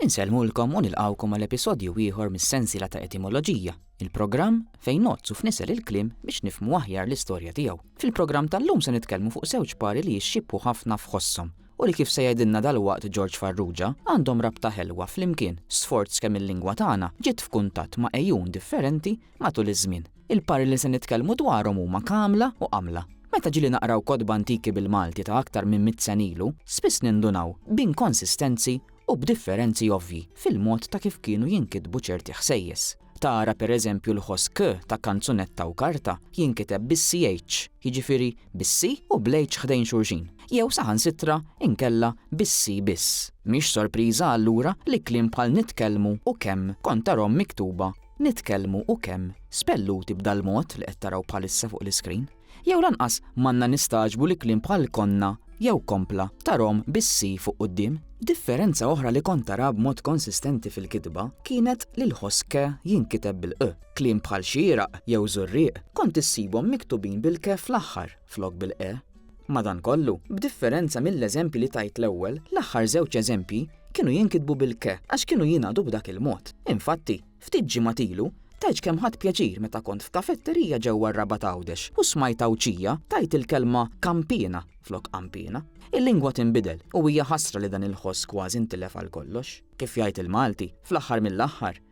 Insellmulkom u nilqgħukom għal episodju ieħor mis-sensiela ta' Etimoloġija, il-programm fejn ngħoddsu f'nisel il-kliem biex nifhmu aħjar l-istorja tiegħu. Fil-programm tal-lum se nitkellmu fuq żewġ pari li jixxiebħu ħafna f'ħosshom u li kif se jgħidilna dalwaqt Ġorġ Farrugia, għandhom rabta ħelwa flimkien, sforz kemm il-lingwa tagħna ġiet f'kuntatt ma' għejun differenti matul iż-żmien. Il-pari li se nitkellmu dwarhom huma kamla u qamla. Meta ġieli naqraw kotba antiki bil-Malti ta' aktar minn mitt sena ilu, spiss nindunaw b'inkonsistenzi u b'differenzi ovvji fil-mod ta' kif kienu jinkitbu ċerti ħsejjes. Tara pereżempju l-ħoss k ta' kanzunetta u karta jinkiteb bis-CH, jiġifieri bis-C u bl-H ħdejn xulxin, jew saħansitra inkella bis-C biss. Mhix sorpriża allura li kliem bħal nitkellmu u kemm kont tarahom miktuba nitkellmu u kemm spelluti b'dal-mod li qed taraw bħalissa fuq l-iskrin, jew lanqas m'għandna nistagħġbu li kliem bħal konna jew kompla ta' rom bis-si fuq quddiem. Differenza oħra li kont tara b'mod konsistenti fil-kitba kienet li l-ħoss ke jinkiteb bil-q. Kliem bħal xieraq jew żurrieq kont issibhom miktubin bil-ke fl-aħħar flok bil-qe. Madankollu, b'differenza mill-eżempji li tajt l-ewwel, l-aħħar żewġ eżempji kienu jinkitbu bil-ke għax kienu jingħadu b'dak il-mod. Infatti, ftit ġimgħat ilu, tgħidx kemm ħadt pjaċir meta kont f'kafetterija ġewwa r-Rabat Għawdex u smajt Għawdxija tgħid il-kelma kampiena flok qampiena. Il-lingwa tinbidel u hija ħasra li dan il-ħoss kważi ntilef għal kollox. Kif jgħid il-Malti, fl-aħħar mill-aħħar,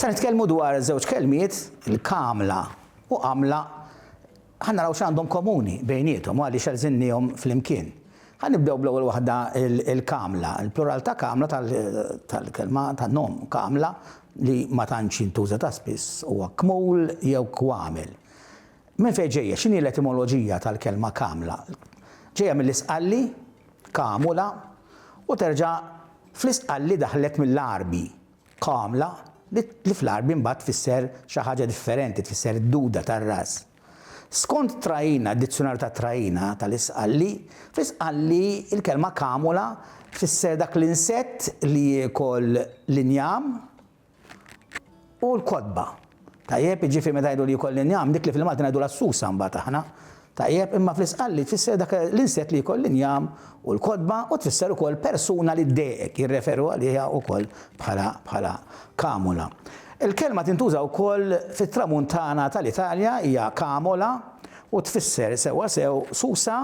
Se nitkellmu dwar żewġ kelmiet, il-kamla u għamla. Ħa naraw x'għandhom komuni bejniethom u għaliex għeżilniehom flimkien. Ħa nibdew bl-ewwel waħda, il-kamla. Il-plural ta' kamla tal-kelma tan-nom kamla li ma tantx jintuża ta' spiss huwa kmul jew kwamil. Minn fejn ġejja? X'inhi l-etimoloġija tal-kelma kamla? Ġejja mill-Isqalli, kamula, u terġa' fl-Isqalli daħlet mill-Għarbi. Kamla, li li fl-Għarbi mbagħad tfisser xi ħaġa differenti, tfisser id-duda tar-ras. Skont Traina, d-Dizzjunarju ta' Traina, ta' l-Isqalli, fl-Isqalli l-kelma kamula tfisser dak l-insett li jiekol l-injam u l-kotba. Tajjeb, jiġifieri meta ngħidu li jkolli njam, dik li fil-Malti ngħidulha s-susa mbagħad aħna. Tajjeb, imma fl-Isqalli tfisser dak l-insett li jkolli njam u l-kotba u tfisser ukoll persuna li ddejqek, jirreferu għaliha ukoll bħala bħala kamula. Il-kelma tintuża ukoll fit-Tramuntana tal-Italja, hija camola u tfisser sewwa sew susa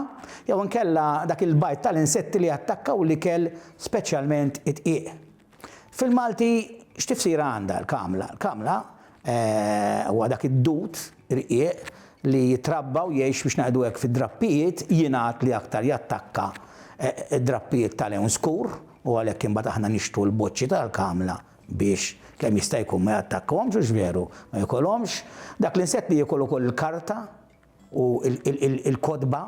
jew inkella dak il-bajt tal-insetti li jattakkaw l-ikel speċjalment id-dqiq. Fil-Malti x'tifsira għandha l-kamla? L-kamla huwa dak id-dud irqieq li jitrabba u jgħix biex ngħidu hekk fid-drappijiet, jingħad li aktar jattakka drappijiet ta' lewn skur u għalhekk imbagħad aħna nixtru l-boċċi tal-kamla biex kemm jista' jkun ma jattakkahomx hux veru? Ma jikolhomx. Dak l-insett li jiekol ukoll il-karta u l-kotba,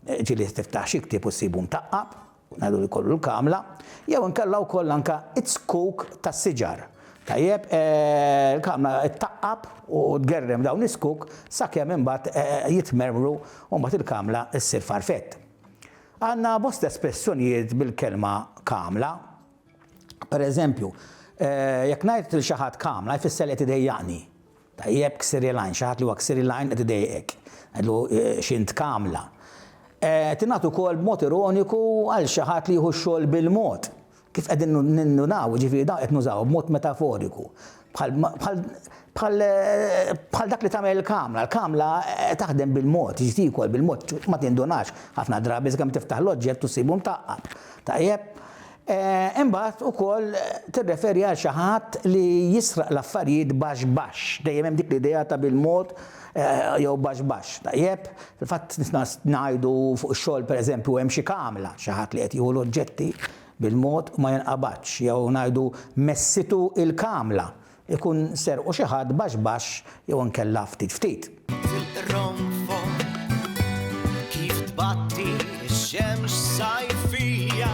ġieli tiftaħ xi ktieb u ssibu mtaqqab. Ngħidu li jkollu l-kamla, jew inkella wkoll anke z-zkuk tas-siġar. Tajjeb, il-kamla ttaqqab u tgerrem dawn iz-zkuk sakemm imbagħad jitmermru u mbagħad il-kamla ssir farfett. Għandna bosta espressjonijiet bil-kelma kamla. Pereżempju, jekk ngħid lil xi ħadd kamla jfisser li qed idejjaqni. Tajjeb ksiri l-għajn, xi ħadd li huwa ksiri l-għajn qed idejqek. Ngħidlu x'int kamla. Tingħad ukoll b'mod ironiku għal xi ħadd li jieħu x-xogħol bil-mod. Kif qegħdin nindunaw, jiġifieri dawn qed nużawha b'mod metaforiku. Bħal, bħal, bħal, bħal dak li tagħmel il-kamla. Il-kamla taħdem bil-mod, jiġi tiekol bil-mod, ma tindunax ħafna drabi sakemm tiftaħ l-oġġett u ssibu mtaqqab. Tajjeb? Imbagħad ukoll tirreferi għal xi ħadd li jisraq l-affarijiet baxx baxx, dejjem hemm dik l-idea ta' bil-mod jew baxx baxx, tajjeb? Fil-fatt nisna ngħidu fuq ix-xogħol pereżempju hemm xi kamla, xi ħadd li qed jieħu l-oġġetti bil-mod u ma jinqabadx, jew ngħidu messitu il-kamla, Ikun serqu xi ħadd baxx baxx jew inkella ftit ftit. Tirronfon kif tbatti x-xemx sajfija.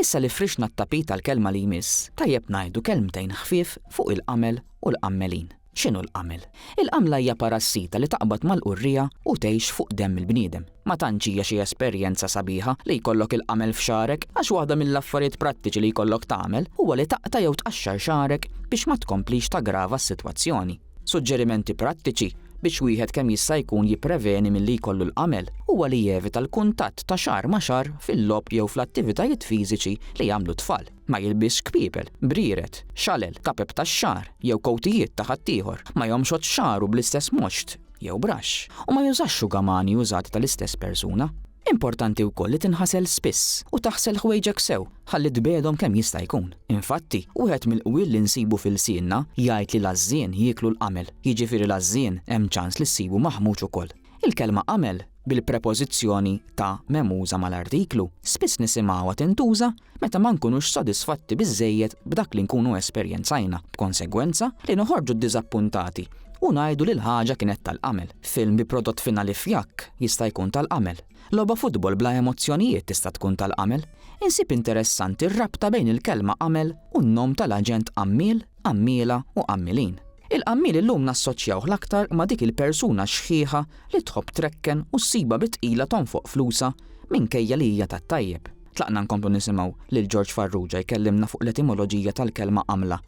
Issa li frixna t-tapit għall-kelma li jmiss, tajjeb ngħidu kelmtejn ħfief fuq il-qamel u l-qammelin. X'inhu l-qamel? Il-qamla hija parassita li taqbad mal-qurriegħa u tgħix fuq demm il-bniedem. Ma tantx hija xi esperjenza sabiħa li jkollok il-qamel f'xagħrek għax waħda mill-affarijiet prattiċi li jkollok tagħmel huwa li taqta' jew tqaxxar xagħrek biex ma tkomplix taggrava s-sitwazzjoni. Suġġerimenti prattiċi biex wieħed kemm jista' jkun jippreveni milli jkollu l-qamel huwa li jevita l-kuntatt ta' xagħar ma' xagħar fil-logħob jew fl-attivitajiet fiżiċi li jagħmlu t-tfal. Ma jilbisx kpiepel, brieret, xalel, kapep tax-xagħar, jew kowtijiet ta' ħaddieħor, ma jomxodx xagħru bl-istess moxt jew braxx, u ma jużax xugamani użat tal-istess persuna. Importanti wkoll li tinħasel spiss u taħsel ħwejġek sew ħalli tbiegħdhom kemm jista' jkun. Infatti, wieħed mill-qwiel li nsibu f'ilsienna jgħid li l-għażżien jieklu l-qamel, jiġifieri l-għażżien hemm ċans li ssibu maħmuġ ukoll. Il-kelma għamel, bil-prepożizzjoni ta' memuża mal-artiklu, spiss nisimgħuha tintuża meta ma nkunux sodisfatti biżżejjed b'dak li nkunu esperjenzajna, b'konsegwenza li noħorġu ddiżappuntati u ngħidu li l-ħaġa kienet tal-għamel. Film bi prodott finali fjakk jista' jkun tal-għamel. Logħba futbol bla emozzjonijiet tista' tkun tal-għamel. Insib interessanti r-rabta bejn il-kelma għamel u n-nom tal-aġent għammiel Qammiela u qammielin. Il-qammiel illum nassoċjawh l-aktar ma' dik il-persuna xħiħa li tħobb trekken u ssibha bi tqila tonfoq flusha minkejja li hija tat-tajjeb. Tlaqna nkomplu nisimgħu lil Ġorġ Farrugia jkellimna fuq l-etimoloġija tal-kelma qamla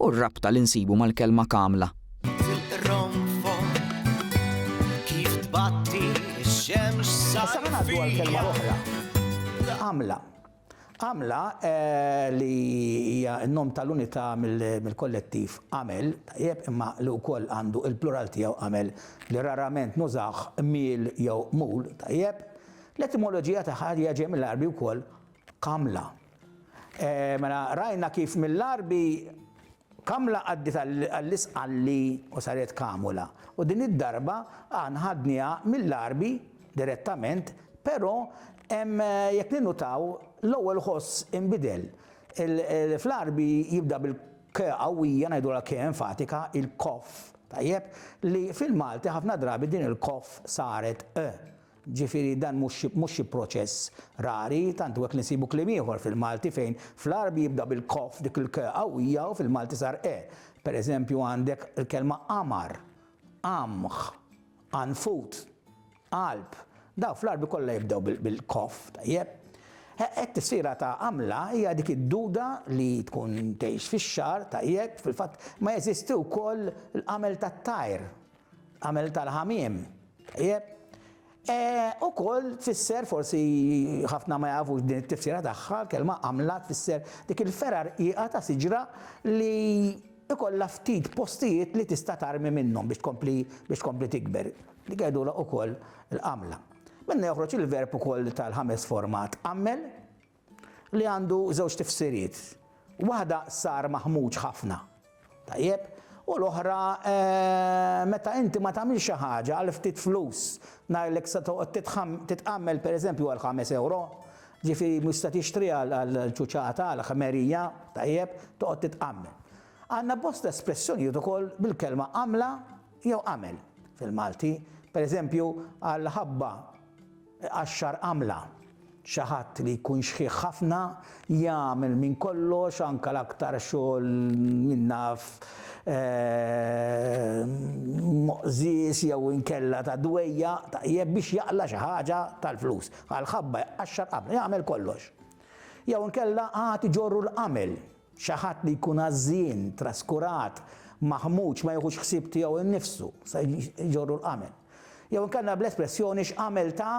u r-rabta li nsibu mal-kelma kamla. Issa ħa ngħaddu għal kelma oħra, qamla. Għamla li hija n-nom tal-unità mill-kollettiv għamel, tajjeb, imma li wkoll għandu il-plural tiegħu għamel, li rarament nużawh miel jew mul, tajjeb. L-etimoloġija tagħha hija ġej mill-Għarbi wkoll għamla. Mela rajna kif mill-Għarbi Kamla għaddiet għall-Isqalli u saret Kamula u din id-darba aħna ħadniha mill-Għarbi direttament però hemm jekk ninnutaw l-ewwel ħoss inbidel. Fl-Għarbi jibda bil k qawwija ngħidulha k enfatika, il-kof, tajjeb, li fil-Malti ħafna drabi din il-kof saret q. Ġifieri dan mhux xi proċess rari, tant hu hekk li nsibu kliem ieħor fil-Malti fejn fl-Għarbi jibda bil-k f'dik il-k qawwija u fil-Malti sar e. Per eżempju għandek il-kelma qamar, qamħ, qanfut, qalb. Dawn fl-Għarbi kollha jibdew bil-k, tajjeb? Hekk tifsira ta' qamla hija dik id-duda li tkun tgħix fix-xagħar, tajjeb, fil-fatt ma jeżisti wkoll l-qamel tat-tajr. Għamel tal-ħamiem. Jep. E, u koll tfisser, forsi ħafna ma jafux din it-tifsira tagħha, kelma għamla tfisser dik il-ferar iqa ta' siġra li ikolla ftit postijiet li tista' tarmi minnhom biex tkompli biex tkompli tikber. Li għedula ukoll l-għamla. Minna joħroġ il-verb ukoll tal-ħames format għammel, li għandu żewġ tifsiriet. Waħda sar maħmuġ ħafna. Tajjeb? U l-oħra meta inti ma tagħmilx xi ħaġa għal ftit flus, ngħidlek se toqgħod titħam titqammel pereżempju għal ħames ewro, ġifieri mhux se tixtri għal għal ċuċata, għal ħmerija, tajjeb, toqgħod titqammel. Għandna bosta espressjonijiet ukoll bil-kelma għamla jew għamel fil-Malti. Pereżempju, għall-ħabba Iqaxxar għamla. Xi ħadd li jkun xħiħ ħafna jagħmel minn kollox anke l-aktar xogħol min naf moqżież jew inkella ta' dwejjaq tajjeb biex jaqla' xi ħaġa tal-flus. Għall-ħabba jqaxxar għamla, jagħmel kollox. Jew inkella qagħad iġorru l-għamel. Xi ħadd li jkun għażżien, traskurat, maħmuġ, ma jiħux ħsieb tiegħu nnifsu, se jġorru l-qamel. Jew inkella bl-espressjoni x'qamel ta'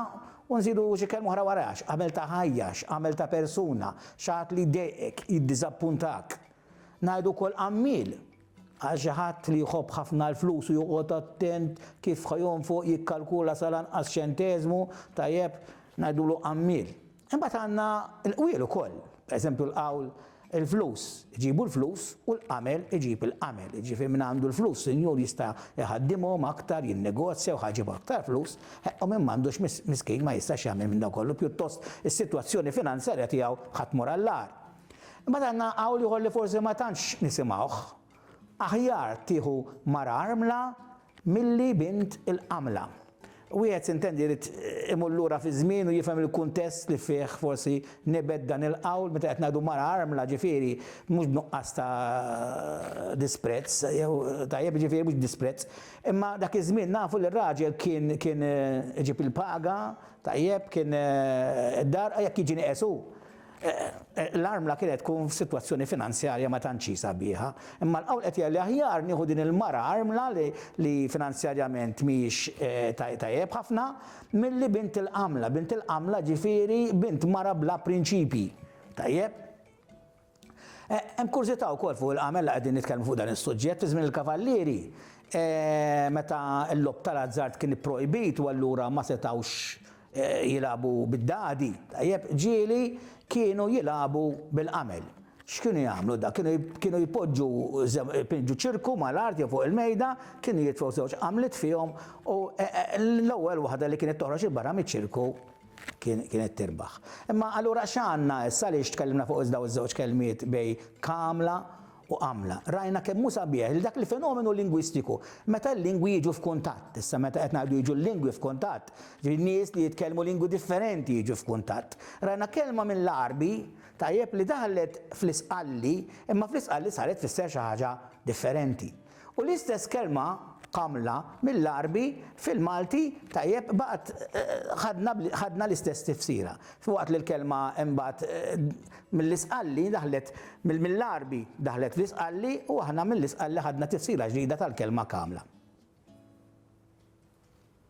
u nżidu xi kelma oħra waraha, x'qamel ta' ħajja, x'qamel ta' persuna, xi ħadd li jdejqek, jiddiżappuntak. Ngħidu wkoll qammiel għal xi ħadd li jħobb ħafna l-flus u joqgħod attent kif ħa jonfoq, jikkalkula sal-anqas ċenteżmu, tajjeb, ngħidulu qammiel. Imbagħad għandna l-qwiel ukoll, pereżempju l-qawl Il-flus iġibu l-flus u l-qamel iġib il-qamel. Jiġifieri min għandu l-flus sinjur jista' jħaddimhom aktar, jinnegozja u ħaġib aktar flus, u min m'għandux miskin ma jistax jagħmel minn dan kollu, pjuttost is-sitwazzjoni finanzjarja tiegħu ħa tmur għall-agħar. Imbagħad għandna qawl ieħor li forsi ma tantx nisimgħuh, Aħjar tieħu mara armla milli bint il-qamla. Wieħed sintendi jrid imur lura fiż-żmien u jifhem il-kuntest li fih forsi nibet dan il-qawl meta qed ngħidu mara armla ġifieri mhux b'nuqqas ta' disprezz jew tajjeb jiġifieri mhux b'disprezz imma dak iż-żmien nafu li r-raġel kien kien iġib il-paga tajjeb kien id-dar jekk jiġi nieqes hu L-armla kienet tkun f'sitwazzjoni finanzjarja ma tantx hi sabiħa, imma l-qawl qed jgħid li aħjar nieħu din il-mara armla li finanzjarjament mhijiex tajjeb ħafna milli bint il-qamla, bint il-qamla ġifieri bint mara bla prinċipji. Tajjeb? Hemm kurżità wkoll fuq il-qamel la qegħdin nitkellmu fuq dan is-suġġett, fi żmien il-kavallieri meta l-logħob tal-azzard kien ipprojbit u allura ma setgħux jilagħbu bid-dadi, tajjeb, ġieli kienu jilagħbu bil-qamel. X'kienu jagħmlu da? Kienu kienu jpoġġu pinġu ċirku mal-art jew fuq il-mejda, kienu jitfgħu żewġ qamliet fihom u l-ewwel waħda li kienet toħroġ il-barra miċ-ċirku kienet tirbaħ. Imma allura x'għandna issa għaliex tkellimna fuq dawn iż-żewġ kelmiet bej kamla u għamla. Rajna kemm hu sabiħ li dak il-fenomenu lingwistiku, meta l-lingwi jiġu f'kuntatt, issa meta qed ngħidu jiġu l-lingwi f'kuntatt, jiġifieri nies li jitkellmu lingwi differenti jiġu f'kuntatt. Rajna kelma mill-Għarbi, tajjeb, li daħlet fl-Isqalli, imma fl-Isqalli saret tfisser xi ħaġa differenti. U l-istess kelma kamla mill-Għarbi fil-Malti tajjeb baqgħet ħadna ħadna l-istess tifsira. Filwaqt li l-kelma imbagħad mill-Isqalli daħlet mill-Għarbi daħlet fl-Isqalli u aħna mill-Isqalli ħadna tifsira ġdida tal-kelma kamla.